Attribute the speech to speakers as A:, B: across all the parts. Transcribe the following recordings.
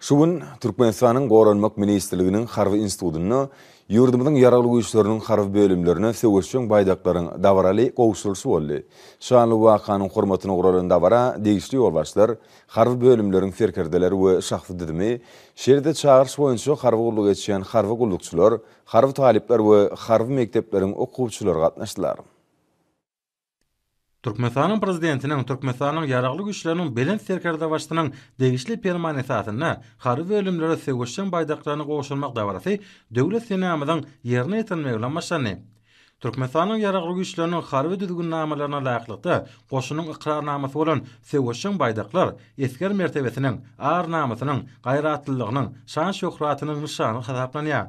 A: Şu gün Türkmenistanyň Goranmak ministrliginiň Harby institutynda ýurdumyzyň Ýaragly Güýçleriniň harby bölümlerine söweşjeň baýdaklaryň dabaraly gowşurylyşy boldy. Şanly wakanyň hormatyna guralan dabara degişli ýolbaşçylar, harby bölümleriň serkerdeleri we şahsy düzümi, şeýle-de çagyryş boýunça harby gulluk etýän harby gullukçylar, harby talyplar we harby mekdepleriň okuwçylary gatnaşdylar.
B: Türkmenistanyň Prezidentiniň Türkmenistanyň Ýaragly Güýçleriniň Belent Serkerdebaşysynyň degişli Permany esasynda harby bölümlere söweşjeň baýdaklaryny gowşurmak dabarasy Döwlet senamyzyň ýerine ýetirilmegi bilen başlandy. Türkmenistanyň Ýaragly Güýçleriniň harby düzgünnamalaryna laýyklykda goşunyň ykrarnamasy bolan söweşjeň baýdaklar esger mertebesiniň, ar-namysynyň, gaýratlylygynyň, şan-şöhratynyň nyşany hasaplanýar.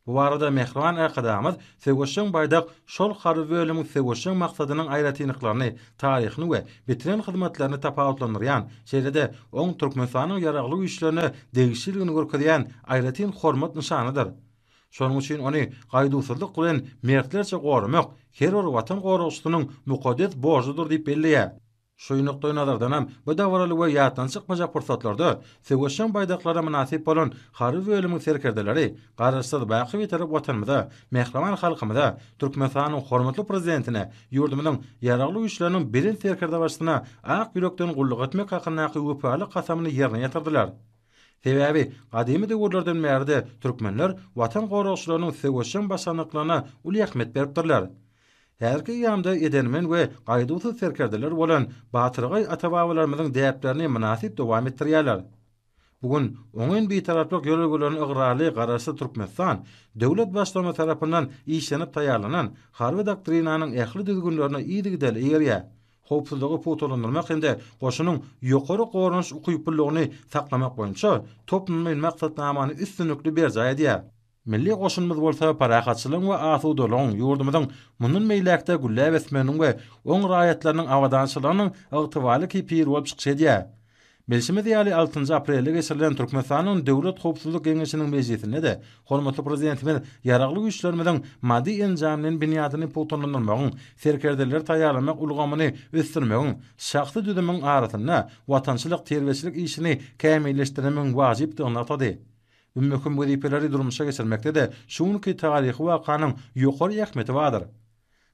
B: Bu barada mähriban Arkadagymyz Söweşjeň baýdak şol harby bölümiň söweşjeň maksadynyň aýratynlyklaryny, taryhyny we bitiren hyzmatlaryny tapawutlandyrýan, şeýle-de oň Türkmenistanyň Ýaragly Güýçlerine degişliligini görkezýän aýratyn hormat nyşanydyr. Şonuň üçin ony gaýduwsyzlyk bilen mertlerçe goramak her bir Watan goragçysynyň mukaddes borjudyr diýip belleýär. Şu nukdaýnazardanam, bu dabaraly we ýatdan çykmajak pursatlarda söweşjeň baýdaklara mynasyp bolan harby bölümiň serkerdeleri Garaşsyz, baky Bitarap Watanymyza, mähriban halkymyza, Türkmenistanyň hormatly Prezidentine, ýurdumyzyň Ýaragly Güýçleriniň Belent Serkerdebaşysyna ak ýürekden gulluk etmek hakyndaky wepaly kasamyny ýerine ýetirdiler. Sebäbi, gadymy döwürlerden bäri-de türkmenler Watan goragçylarynyň söweşjeň başarnyklaryna uly ähmiýet beripdirler. Häzirki eýýamda edermen we gaýduwsyz serkerdeler bolan batyrgaý ata-babalarymyzyň däplerini mynasyp dowam etdirýärler. Bu gün oňyn bitaraplyk ýörelgelerine ygrarly Garaşsyz Türkmenistan döwlet Baştutany tarapyndan işlenip taýýarlanan Harby doktrinanyň ähli düzgünlerine yzygiderli eýerýär, howpsuzlygy pugtalandyrmak hem-de goşunyň ýokary goranyş ukyplylygyny saklamak boýunça toplumlaýyn maksatnamany üstünlikli berjaý edýär. Milli goşunymyz bolsa parahatçylygyň we asudalygyň, ýurdumyzyň mundan beýläk-de gülläp ösmeginiň we oň raýatlarynyň abadançylygynyň ygtybarly kepili bolup çykyş edýär. Bilşimiz ýaly, altynjy aprelde geçirilen Türkmenistanyň Döwlet howpsuzlyk geňeşiniň mejlisinde-de hormatly Prezidentimiz Ýaragly Güýçlerimiziň maddy-enjamlaýyn binýadyny pugtalandyrmagyň, serkerdeleri taýýarlamak ulgamyny ösdürmegiň, şahsy düzümiň arasynda watançylyk terbiýeçilik işini kämilleşdirmegiň wajypdygyny nygtady. Bu möhüm wezipeleri durmuşa geçirmekde-de şu günki taryhy wakanyň ýokary ähmiýeti bardyr.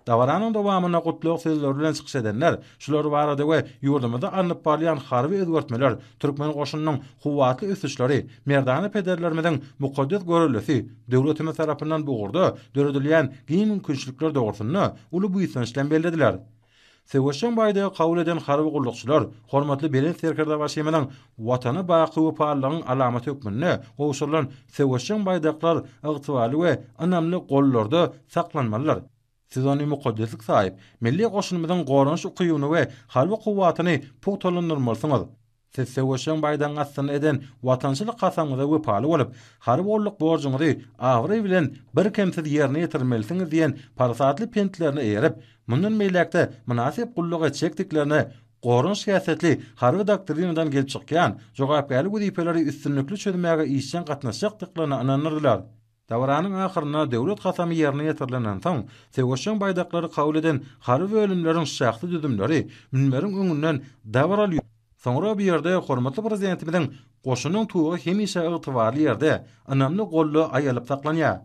B: Dabaranyň dowamynda gutlag sözleri bilen çykyş edenler şular barada we ýurdumyzda alnyp barylýan harby özgertmeler, türkmen goşunynyň kuwwatly ösüşleri, merdana pederlerimiziň mukaddes görellesi, döwletimiz tarapyndan bu ugurda döredilýän giň mümkinçilikler dogrusynda uly buýsanç bilen bellediler. Söweşjeň baýdagy kabul eden harby gullukçylar hormatly Belent Serkerdebaşymyzyň Watana baky wepalylygyň alamaty hökmünde gowşurylan söweşjeň baýdaklar ygtybarly we ynamly gollarda saklanmalydyr. Siz ony mukaddeslik saýyp, milli goşunymyzyň goranyş ukybyny we harby kuwwatyny pugtalandyrmalysyňyz. Siz söweşjeň baýdagyň astynda eden watançylyk kasamyňyza wepaly bolup, harby gulluk borjuňyzy abraý bilen birkemsiz ýerine ýetirmelisiňiz diýen parasatly pentlerine eýerip, mundan beýläk-de mynasyp gulluk etjekdiklerine goran şikäsletli Harby doktrinadan gelip çykýan jogapkärli wezipeleri üstünlikli çözmäge işjeň gatnaşjakdyklaryna ynandyrdylar. Dabaranyň ahyrynda Döwlet kasamy ýerine ýetirilenden soň, söweşjeň baýdaklary kabul eden harby bölümleriň şahsy düzümleri münberiň öňünden dabaraly ýörüp, soňra bu ýerde hormatly Prezidentimiziň Goşunyň tugy hemişe ygtybarly ýerde, ynamly golda aýalyp saklanýar.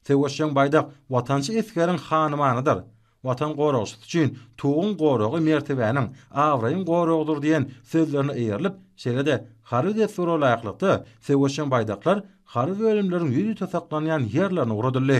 B: Söweşjeň baýdak watançy esgeriň hanymanydyr. Watan goragçysy üçin Tuguň goragy mertebäniň, abraýyň goragydyr diýen sözlerine eýerilip, şeýle-de harby dessura laýyklykda, söweşjeň baýdaklar harby bölümleriň ýüzüte saklanýan ýerlerine ugradyldy.